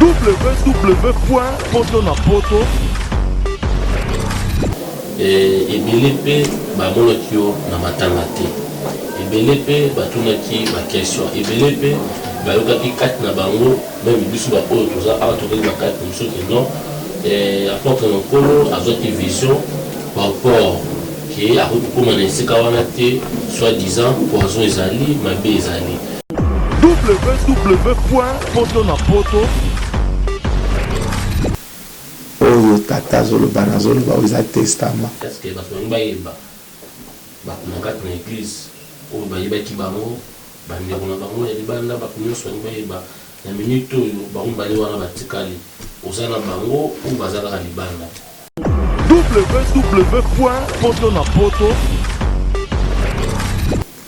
www.potonapoto eh, ebele mpe bamonaki yo na matanga te ebele mpe batunaki bakestion ebele mpe bayokaki kati na bango meme biso baoyo toza awa tokei na kati mosusu ke non eh, apôtre na nkolo azwaki vision par rapport ke akoki kokóma na esika wana te soit disant poison ezali mabe ezali www.potonapoto oyo tata azoloba nazoloba oyo eza testama parceke bato balingi bayeba bato na kati na eglize oyo bayebaki bango bandeko na bango ya libanda bato nyonso balingi bayeba na minute oyo bango mibale wana batikali oza na bango oyo baza kaka libanda www.potonapoto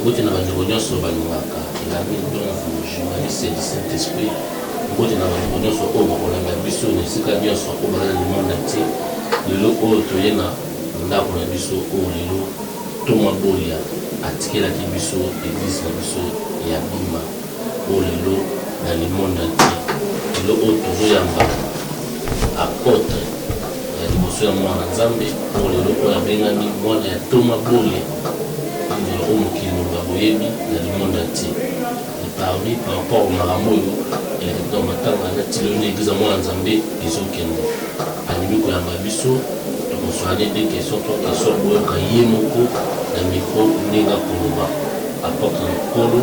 Mbote na bandeko nyonso balingaka Elamine Ndonvu, journaliste du Saint Esprit, mbote na bandeko nyonso oyo bakolanda biso na esika nyonso oyo baza na monde entier, lelo oyo toye na ndako na biso oyo lelo Ntoma Bolia atikelaki biso eglise na biso ya Bima. oyo lelo na le monde entier lelo oyo tozo yamba apotre ya liboso ya mwana na nzambe oyo lelo oyo abengami mwana ya ntoma bole ndelo oyo mokili mobimba boyebi na le monde entier et parmi par rapport au makambo oyo elekaki na matanga na tilo nde eglise ya mwana na nzambe ezokende alingi koyamba biso tokosoane de question to question boyoka ye moko na micro ndenge akoloba apotre na nkolo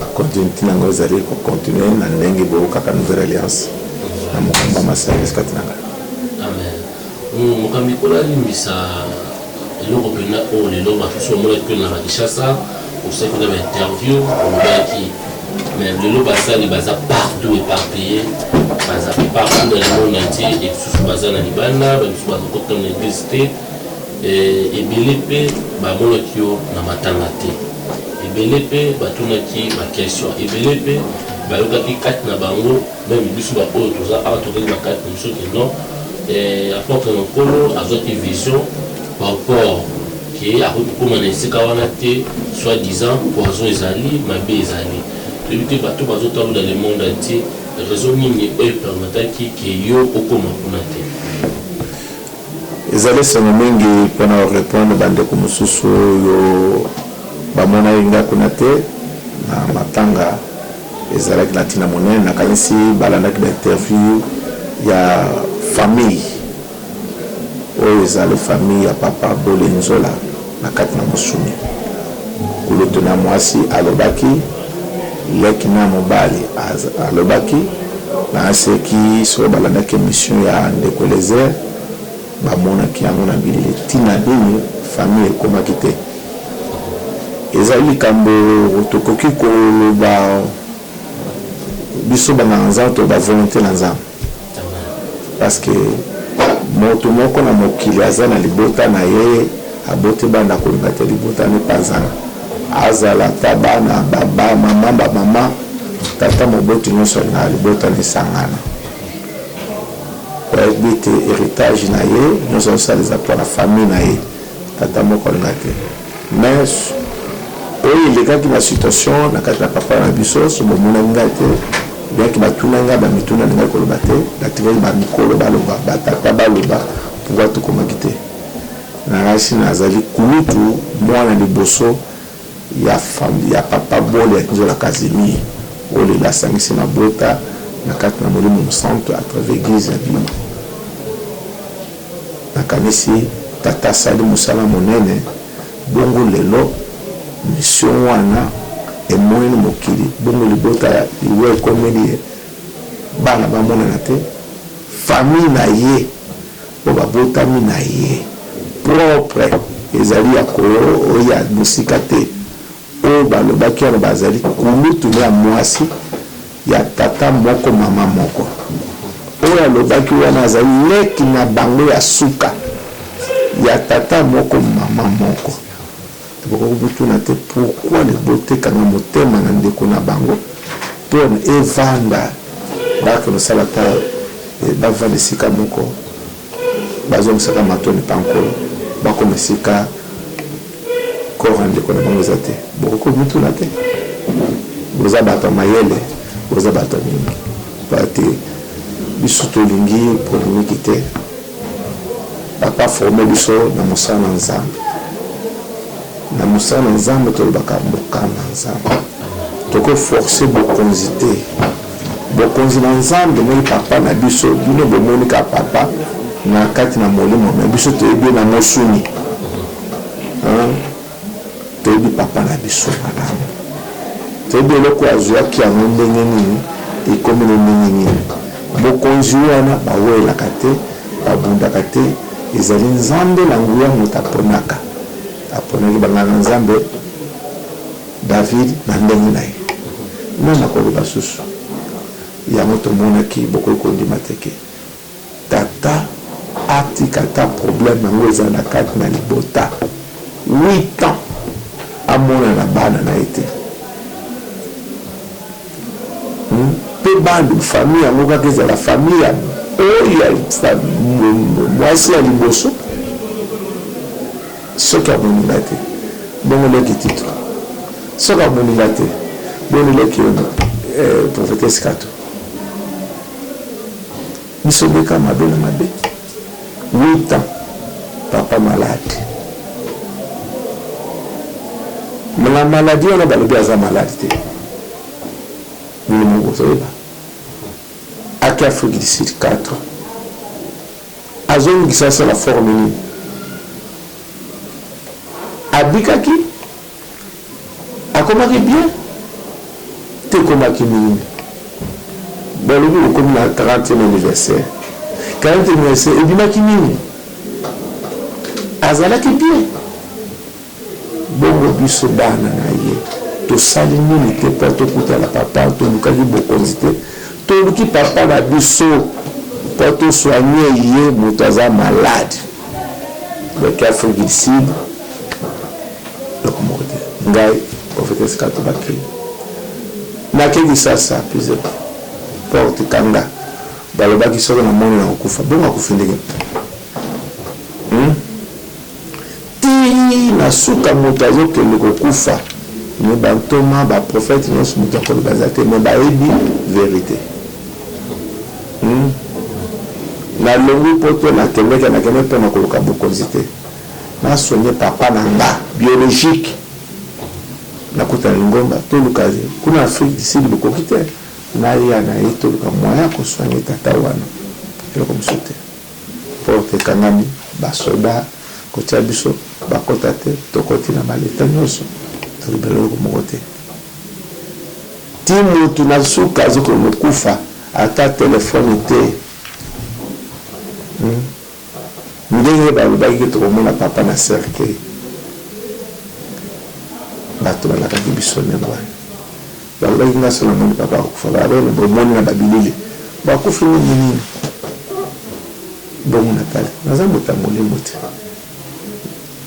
Ba continuity na ngai ezali ko continuer na ndenge bo yokaka nouvelle alliance na mokumba ma service kati na ngai. Amen. Mokambi, Nkolo alimbisa eloko mpenza oyo lelo basusu bamonaki mpe na Kinshasa, osalaki mpenza ba interview, olobaki mais lelo basali baza partout eparpille, baza partout dans le monde entier, et basusu baza na libanda, basusu bazokota na eglise te. Ebele mpe bamonaki yo na matanga te, ebele mpe batunaki ba questions, ebele mpe bayokaki kati na bango, meme biso ba oyo toza awa toyokaki na kati na biso que non, Apotre na Nkolo azwaki vision par rapport que akoki kokoma na esika wana te, soit disant poison ezali, mabe ezali. Toyebi te bato oyo bazotala na le monde entier, raison nini oyo e permettaki que yo okoma kuna te? Ezali esengo mingi mpo na o repondre ba ndeko mosusu oyo ba monaki ngai kuna te na matanga. Ezalaki na ntina monene. Nakanisi ba landaki ba interview ya famille oyo ezali famille ya Papa Bolenzola. Na kati na mosuni, nkulutu na mwasi alobaki, leki na mobali alobaki, Naseki. Soki balandaki emission ya ndeko Eliezer, bamonaki yango na bilili. Ntina nini famille ekomaki te? Ezali likambo tokoki koloba biso banganga-nzambe to ba volonte na Nzambe. Parce que mutu moko na mokili aza na libota na ye aboti bana akolinga te libota na ye epanzana azala ata bana ba ba maman ba maman tata moboti nionso alingaka libota na esangana koyebite heritage na ye nionso azo sala eza pona famille na ye tata moko alinga te Mais oyo elekaki ba situation na kati na papa na biso soki bomonaki ngai te bien que batuna ngai ba mituna nalingaki koloba te natikaki ba mikolo baloba ba tata baloba pourquoi tokomaki te nalakisi nazali kulutu mwana liboso ya famille ya papa bole ya kinzola casimir oyo lelo asangisi mabota na kati na molimo mosantu à travers eglise ya bima. Nakanisi Tata asali mosala monene, bongo lelo mission wana emoin mokili, bongo libota ya liwa ekomeli ye, bana bamonana te, famille na ye oyo babotami na ye propre ezali ya koya mosika te. Oyo balobaki wana bazali kulutu mpe ya mwasi ya tata moko mama moko. Oyo alobaki wana azali leki na bango ya suka ya tata moko mama moko. Bokoki komituna te pourquoi libota ekanga motema na ndeko na bango mpe evanda bake kosala ata bavanda esika moko Bazongisaka matondi epa Nkolo, bakoma esika corps ya ndeko na bango eza te. Bokoki komituna te? Boza bato ya mayele, boza bato ya mingi. Pona te biso tolingi polemiki te. Papa a former biso na mosala na Nzambe. Na mosala na Nzambe tolobaka mokano ya Nzambe. Toko forcer bokonzi te. Bokonzi na nzambe ndenge papa na biso bino bomoni ka papa na kati na molimo me biso toyebi ye na mosuni hein? toyebi papa na biso malamu toyebi eloko azuaki yango ndenge nini ekomi na ndenge nini bokonzi wana bawelaka te babundaka te ezali nzambe na nguya moto aponaka aponaki banganga nzambe David na ndenge na ye. Nani akoloba susu? Yango tomonaki bokoki kondima te ke tata atika ata probleme yango ezala kati na libota huit ans amona na bana na ye te pe bana famille yango kaka ezala famille ya oyo ya mwasi ya liboso Soki amoni ngai te, bongo leki Tito? Soki amoni ngai te, boni leki yo na eh, prophetesse Kato? Biso nde kaka mabe na mabe. Huit ans, papa malade. Na maladie wana balobi aza malade te. Bino moko bozoyeba. Aki Afrique du Sud 4 ans. Azongi kisasa na forme nini? Abikaki? Akomaki bien? To ekomaki nini? Bon lobi bokomi na 30e anniversaire. 40e anniversaire ebimaki nini? Azalaki bien? Bongo biso bana na ye tosali nini te po tokutana papa tolukaki bokonzi te toluki papa na biso po to soigner ye mutu aza malade leki afrique du sud eloko moko te ngai prophetesse kato bakili nake kisasa pizep porte kanga balobaki soki na moni na kokufa bongo akufi ndenge hmm? Tii na suka mutu azo kende ko kufa mais ba ntoma ba prophète nionso mutu ya koloba eza te mais bayebi verite hum na longui poto na kendeke na kendeke pona koluka bokonzi te na soigne papa na nga biologique na kota na lingomba toluka kuna afrique du sud bokoki te na ya na ye toluka moyen ya ko soigne tata wana eloko mosusu te. Porte ekangami ba soda kotia biso bakota te tokoti na ba leta nionso toloba eloko moko te ti mutu na suka azo kono kufa ata telephone te hum ndenge balobaki ke tokomona papa na cercueil batu balakaki biso ndenge wana. Balobaki nga se namoni papa akufa ba belle bomoni na ba bilili bakufi ndenge nini bongo natali naza moto ya molimo te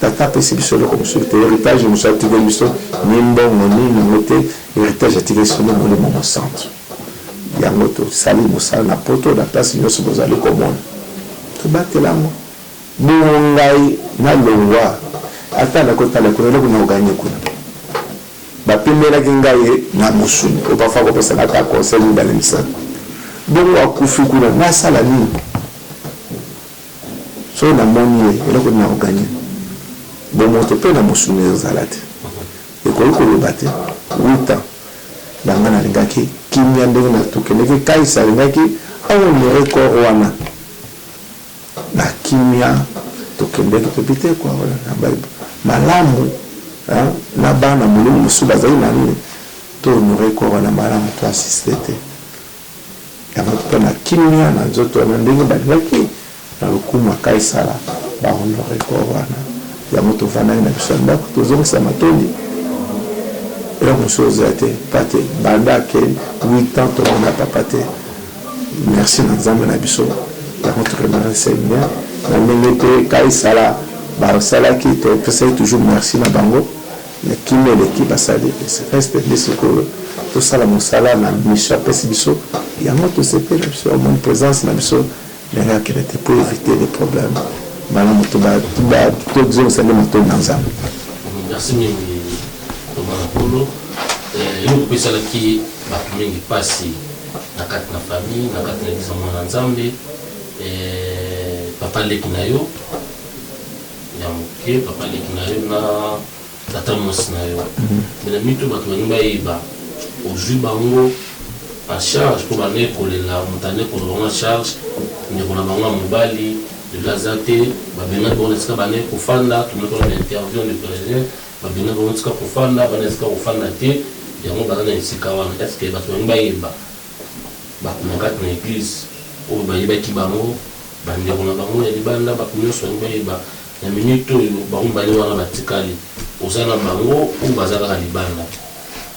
tata apesi biso eloko mosusu te heritage mosusu atikeli biso ni mbongo ni nango te heritage atikeli biso nde molimo mosantu yango tosali mosala na poto na place nionso bozali komona tobatela yango bongo ngai nalongwa ata nakotala kuna eloko nao gagne kuna Bapimelaki nga ye na mosuni po parfois akopesaka ata conseil mibale misatu. Bongo akufi kuna nasala nini? Soki namoni ye eloko nini nako gagner? Bomoto pe na mosuni ezo zala te. Ekoki koloba te huit ans na nga nalingaki kimia ndenge tokendeki Kais alingaki a honorer corps wana. Na kimia tokendeki mpe biteko ya kolanda Bible malamu na bana molimo mosusu bazali na nini? To honorer corps wana malamu, to assister te yango mpe na kimia na nzoto wana, ndenge balingaki na lokumu ya Kaisala ba honorer corps wana. Yango tovandaki na biso na ndako, tozongisa matondi, eloko mosusu ekozala te, mpate banda akei huit ans tomona papa te. Merci na nzambe na biso par notre remercie seigneur na ndenge te ka esala ba salaki to pesaki toujours merci na bango na kimia eleki ba sali reste nde sikoyo to sala mosala na mission apesi biso yango to sepeli na biso omoni presence na biso ndenge akende te pour eviter les problèmes malamu to ba to ba to zongisa nde matoyi na nzambe merci mingi tobana polo eh, eloko pesalaki bato mingi mpasi na kati na famille na kati na biso mwana nzambe eh, papa leki na yo ya moke papa leki na yo na tata mwasi na yo mhm. me na mitu bato balingi bayeba ozwi bango en charge mpo banda ekolela moto anda ekolela bango en charge ndeko na bango ya mobali lelo aza te babengaki bango na esika banda ekofanda tomokola na interview ndeko Babenga bango esika kofanda bana esika kofanda te yango baza na esika wana est ce que batu balingi bayeba batu na kati na eglise oyo bayebaki bango ba ndeko na bango ya libanda batu nionso balingi bayeba na minute oyo bango mibale wana batikali oza na bango ou baza kaka libanda.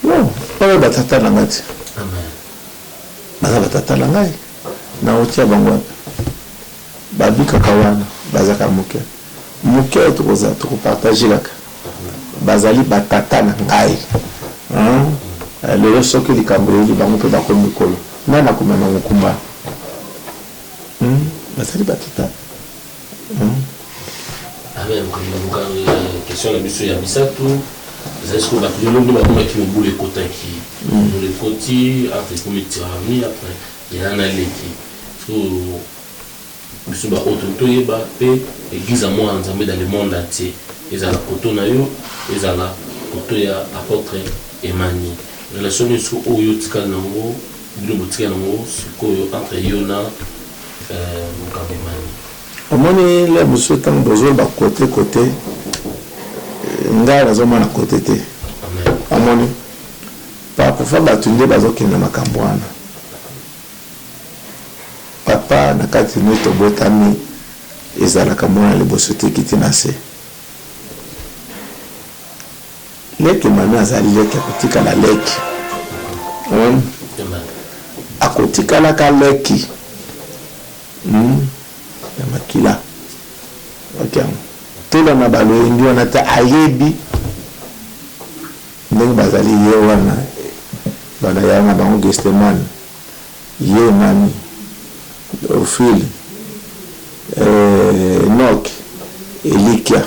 Non oyo ba tata na nga te. Amen. Baza ba tata na ngai nao tia bango wapi? Babi kaka wana baza ka muke muke toko za toko partage kaka bazali ba tata na ngai hum lelo soki likambo eyeli bango pe bako mikolo nani ako mema mukumba hum bazali ba tata hum. Amen mokili luka question na biso ya misatu ezali siko bato lelo nde bamonaki mobulu ekotaki mobulu ekoti entre ekomi tirani après Yaya na leki sikoyo biso ba autres toyeba pe eglise ya mwana nzambe dans le monde entier ezala koto na yo ezala koto ya apotre Emany relation nini sikoyo oyo yo otikali na ngo bino botikali na ngo sikoyo entre yo na mokabo Emany? Omoni lere mosusu tango bozoloba kote kote ngai nazomona kote te omoni. Parfois batu nde bazo kende na makambu wana papa na kati nde tobotami ezalaka muana liboso te ekiti na se leke mami azali leke akotikala leke hum akotikala ka leke hum ya makila ok tola na baloyembi wana te ayebi Ndenge bazali ye wana banda ya na bango Gethsemane ye nani Theophile eh Enoch Elikya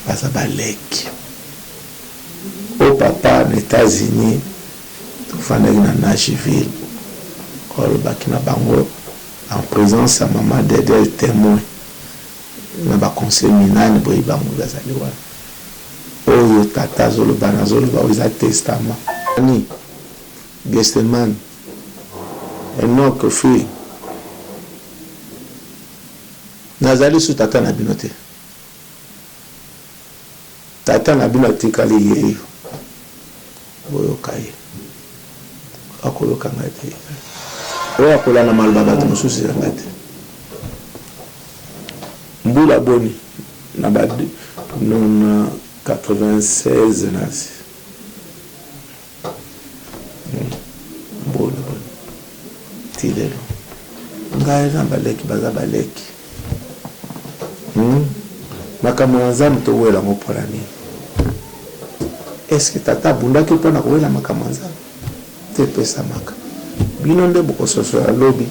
baza ba leki oh papa na Etats-Unis tofandaki na Nashville olobaki na bango en presence ya maman Dedel temoin na ba conseil minani boyebi bango bazali wana Oyo tata azo loba nazo loba oyo eza testament. Nani? Gethsemane? Enock fille nazali lisusu tata na bino te tata na bino atikali yeyo. Boyoka ye. Akoyoka ngai te. Oyo akolanda maloba ya bato mosusu eza ngai te. Mbula boni na ba na 96 nazi mbula boni ti lelo ngai na baleki baza baleki. Hum makambo na nzambe towela yango pona nini? Est ce que tata abundaki pona kowela makambo ya nzambe? Te epesamaka bino nde bokososola lobi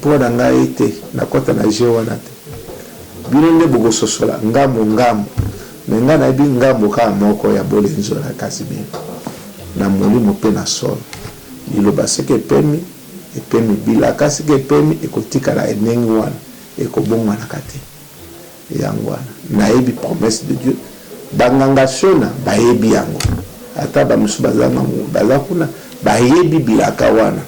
pona ngai te nakota na jeux wana te bino nde bokososola ngambo ngambo mais ngai nayebi ngambo kaka moko ya bolenzo na casimir na molimo pe na solo liloba soki epemi epemi. Bilaka sika epemi ekotikala ya ndenge wana, ekobongwanaka te. Yango wana nayebi promesse de Dieu. Ba nganga Shona bayebi yango, ata ba misusu bazanga nguba baza kuna bayebi bilaka wana.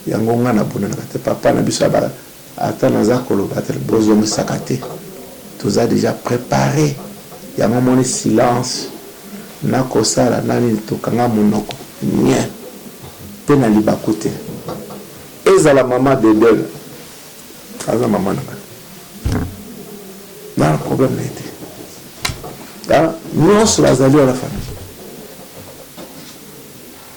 Yango nga nabundanaka te, Papa na biso ya ba. Ata naza koloba te bozongisaka te toza dejà prepare yango omoni silence nako sala na nini tokanga munoko nien pe na libaku te ezala maman dedel aza maman na ngai nana problème na ye te nionso bazali wana famille.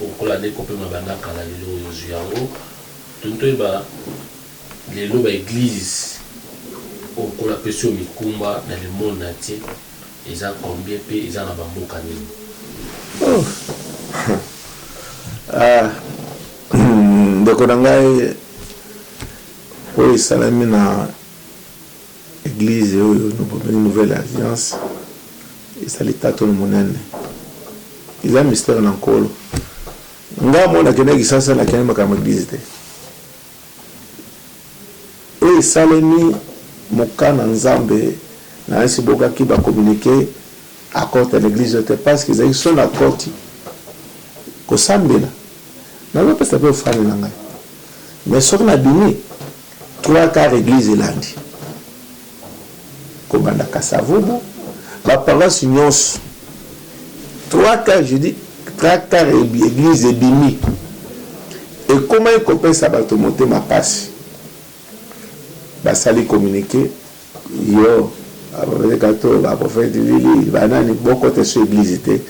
Lokola nde kopema banda kala lelo oyo ozwi yango, tuni toyeba lelo ba eglises oyo nkolo apesi yo mikumba na le monde nantie eza combien mpe eza na ba mboka nini? Ndeko na ngai oyo esalemi na Eglise oyo babengi nouvelle alliance eza litatoli monene eza mistere na nkolo nga mwana kenda kisasa na kende makambo eglise te oyo esalemi moka na nzambe na nsi bokaki ba communique akota na eglise te parce que ezali son akoti kosambela nazopesa pe ofani na ngai mais soki na bimi Trois quarts eglise elandi kobanda Kasavubu ba paroisse nionso trois quarts je dis trois quarts eglise ebimi ekomaki kopesa bato motema pasi basali communique Yo ba prophete kato ba prophete lili ba nani bo kota esu eglise te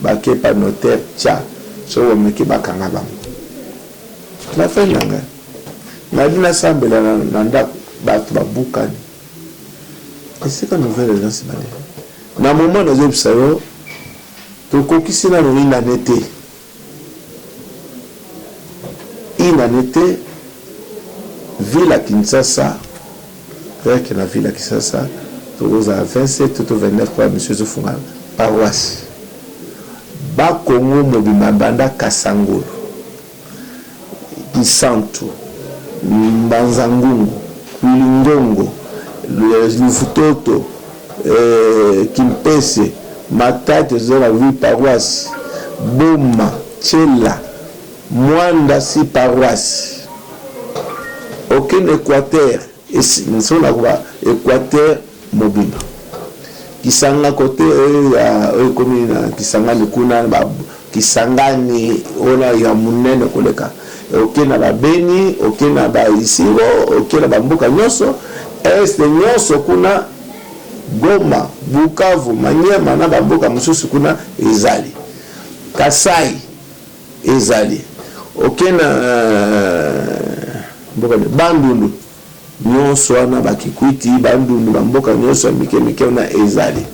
ba kepa notaire ca soki bo meki ba kanga bango na fin na nga nali na sambela na ndaku batu ba bukani esika nouvelle eza sima na ye na moment nazo yebisa yo to kokisi nanu une annee te. Une annee te ville ya Kinshasa rien que na ville ya Kinshasa toko zala 27 to 29 po ba mission ezo fungana paroisse ba kongo mobimba banda kasangulu Kisantu, Mbanza-Ngungu, Kwilingongo, Luvutoto, Kimpese, Matadi eza na huit paroisses, Boma, Tshela, Muanda six paroisses, Aucun Equateur. Esi nso na koka Equateur mobimba. Kisanga cote oyo ya oyo ekomi na Kisangani kuna ba Kisangani ona ya monene koleka. Oke na ba Beni, oke na ba Isiro, oke na ba mboka nyoso Est nyoso kuna Goma, Bukavu, Maniema na ba mboka mosusu kuna ezali. Kasai. Ezali ok na mboka nionso. Bandundu nionso wana, ba Kikwiti, Bandundu, ba mboka nionso ya mike mike wana ezali.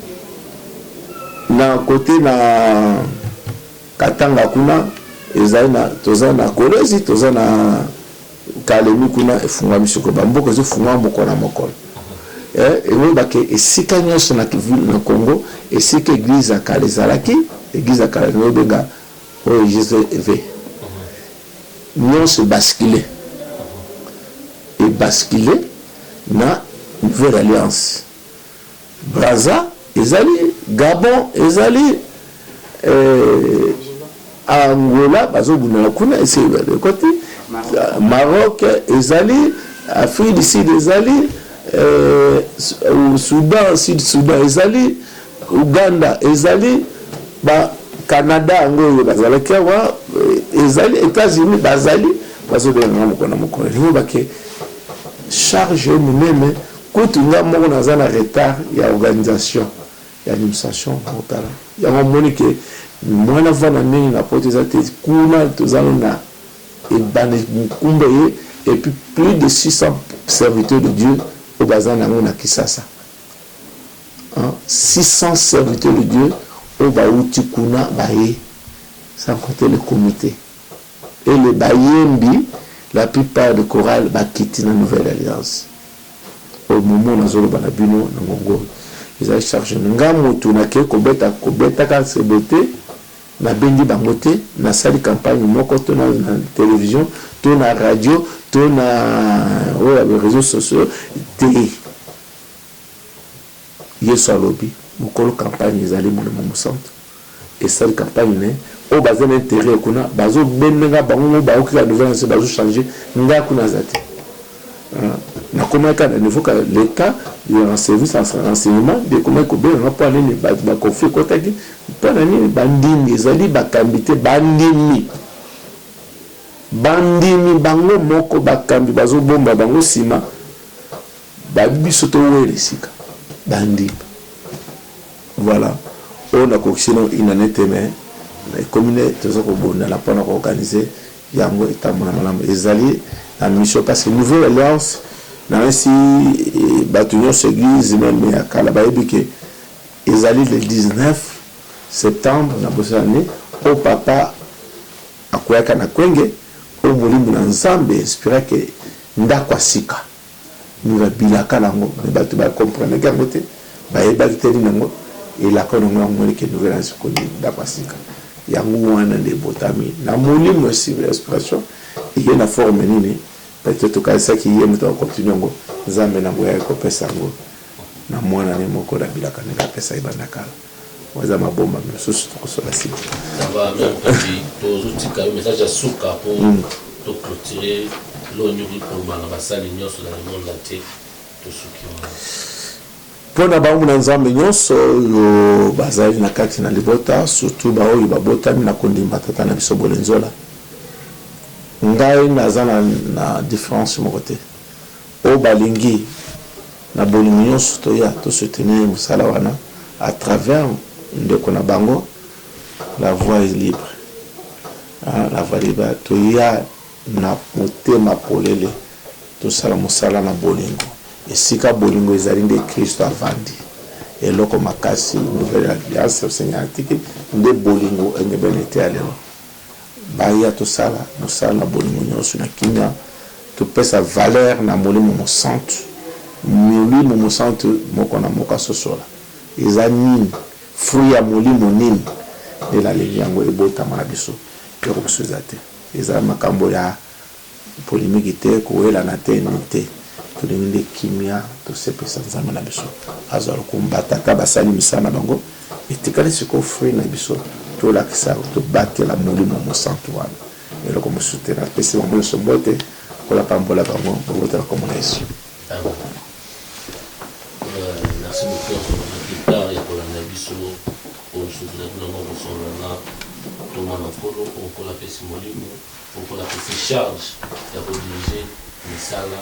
Na cote na Katanga kuna ezali na, toza na Kolwezi, toza na Kalemi kuna efungwami sikoyo. Ba mboka ezo fungwama mokolo na mokolo. Ekoyeba ke esika nionso na Congo esika eglise ya kala ezalaki, eglise ya kala nazo benga, Oyo JCV nionso e basculer, e basculer na nouvelle alliance. Brazza ezali, Gabon ezali, Angola bazo bundana kuna esi ekoti, Maroc ezali, Afrique du Sud ezali, Soudan, Sud Soudan ezali, Ouganda ezali ba Canada yango oyo bazalaki awa ezali Etats Unis bazali bazo benga nga mokolo na mokolo elingi oloba ke charge oyo munene kutu nga moko naza na retard ya organisation ya administration botala yango omoni ke moyen na vanda mingi na poto eza te kuna toza nanu na ebandeli mokumba eye et puis plus de 600 serviteur de Dieu oyo baza na yango na kisasa. 600 serviteur de Dieu oyo ba wuti kuna baye sans compter le comite et les bayembi la plus part de chorale ba kiti na nouvelle alliance au moment nazo loba na bino na ngonga oyo eza chargement nga mutu na ke ko beta ko betaka nsembo te na bengi bango te na sali campagne moko to na television to na radio to na oyo ya ba reseaux sociaux te Yesu alobi mokolo campagne ezali molimo mosantu esali campagne naye oyo baza na interet kuna bazo bendenga bango moko baoki ka nouvelle annee bazo changer nga kuna aza te nakomaki ka na niveau ka l'etat ya service ya renseignement nde ekomaki kobenga nga pona nini bato ba conflit ekotaki pona nini bandimi ezali bakambi te bandimi bandimi bango moko bakambi bazo bomba bango sima Ba biso to weli sika ba ndimi voilà oyo na kokisi no une annee te mais na ekomi nde toza ko bondana pona ko organise yango etambola malamu ezali na mission pasi nouvelle alliance na yesi batu nionso eglise meme ya kala ba yebi ke ezali le 19 septembre na bosani oyo papa akueyaka na kwenge oyo molimo na nzambe inspiraki ndaku ya sika Mura bilaka na yango mais batu ba comprenaki yango te bayebaki te nini yango elako na yango ya mure ke nouvelle annee sikoyo nini ndaku ya sika yango wana nde ebotami na molimo esika inspiration eye na forme nini peut etre tokanisaki ye mutu ako continue yango nzambe na nguya aye kopesa yango na muana na ye moko na bilaka ndenge apesa ye banda kala. Oza maboma misusu toko sala sima. Ça va mère Mukendi tozo tika yo message ya suka po to cloturer eloko nini okoki koloba na basali nionso na le monde entier tosuki wana. Pona ba nguna Nzambe nionso oyo bazali na kati na libota surtout ba oyo babotami na kondima Tata na biso Bolenzola ngai naza na difference moko te. Oyo balingi na bolingo nionso toya to soutenir musala wana à travers ndeko na bango la voix est libre hein la voix libre toya na motema polele tosala musala na bolingo esika bolingo ezali nde Christo avandi eloko makasi nouvelle alliance Seigneur atiki nde bolingo engebene eteya lelo. Baya tosala mosala na bolingo nyonso na kimia, topesa valere na Molimo Mosantu. Molimo Mosantu moko na moko asosola eza nini, fruit ya molimo nini Nde nalingi yango ebotama na biso. Eloko mosusu eza te. Eza makambo ya. Polemiki te, kowelana te, nini te. Tolingi nde kimia, tosepelisa Nzambe na biso. Azwa lokumu. Ba tata basali misala na bango. Etikali sikoyo fruit na biso tolakisa, tobatela Molimo Mosantu wana. Eloko mosusu te. Napesi bango nyonso mbote. Nkolo apambola bango. Bobota na kombo na Yesu. Amen. Merci beaucoup ya kolanda Guitare ya kolanda biso oyo soki ozali kuna noko solola na Ntoma na Nkolo oyo Nkolo apesi molimo. Mpo napesi charge ya ko diriger misala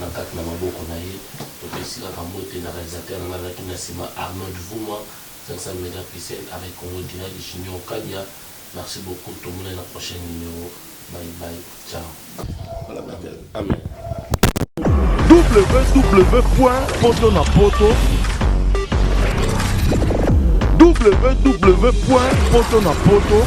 na kati na maboko na ye. Topesi kaka mbote na realisateur na ngai azalaki na sima Arnold Vuma, Cinq-Cents Mega Pixel, Arret Congo Direct, Junior Kadia. Merci beaucoup, tomonani na prochaine numero. Bye bye, ciao. www.potonapoto